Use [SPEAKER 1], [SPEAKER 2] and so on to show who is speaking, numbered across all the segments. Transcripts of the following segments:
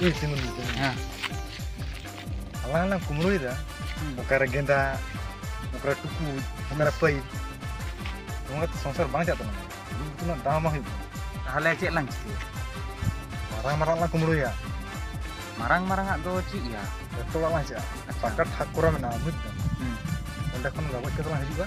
[SPEAKER 1] ᱤᱧ ᱛᱤᱸᱜᱩ ᱞᱮᱫᱟ ᱦᱮᱸ ᱟᱞᱟᱝ ᱞᱟᱝ ᱠᱩᱢᱲᱩᱭᱮᱫᱟ ᱚᱠᱟᱨᱮ ᱜᱮᱸᱫᱟᱜ ᱚᱠᱟᱨᱮ ᱴᱩᱠᱩᱡ ᱚᱠᱟᱨᱮ ᱯᱟᱹᱭᱤᱯ ᱱᱚᱣᱟ ᱠᱟᱛᱮ ᱥᱚᱝᱥᱟᱨ ᱵᱟᱝ ᱪᱟᱜ ᱛᱟᱵᱚᱱᱟ ᱩᱱᱟᱹᱜ ᱫᱟᱢ ᱵᱟᱝ ᱦᱩᱭᱩᱜ ᱛᱟᱦᱚᱞᱮ ᱪᱮᱫ ᱞᱟᱝ ᱪᱤᱠᱟᱹᱭᱟ ᱢᱟᱨᱟᱝ ᱢᱟᱨᱟᱝ ᱞᱟᱝ ᱠᱩᱢᱲᱩᱭᱟ ᱢᱟᱨᱟᱝ ᱢᱟᱨᱟᱝ ᱟᱜ ᱫᱚ ᱪᱮᱫ ᱭᱟ ᱡᱚᱛᱚ ᱚᱲᱟᱜ ᱞᱟᱝ ᱪᱟᱜᱼᱟ ᱯᱟᱠᱟ ᱴᱷᱟᱠ ᱠᱚᱨᱟ ᱢᱮᱱᱟᱜᱼᱟ ᱵᱩᱡ ᱫᱟᱢ ᱚᱸᱰᱮ ᱠᱷᱚᱱ ᱜᱚᱡ ᱠᱟᱛᱮ ᱞᱟᱝ ᱦᱤᱡᱩᱜᱼᱟ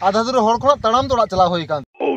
[SPEAKER 1] ᱟᱫᱷᱟ ᱫᱩᱨᱮ ᱦᱚᱲ ᱠᱷᱚᱱᱟᱜ ᱛᱟᱲᱟᱢ ᱫᱚ ᱚᱲᱟᱜ ᱪᱟᱞᱟᱣ ᱦᱩᱭ ᱟᱠᱟᱱ oh,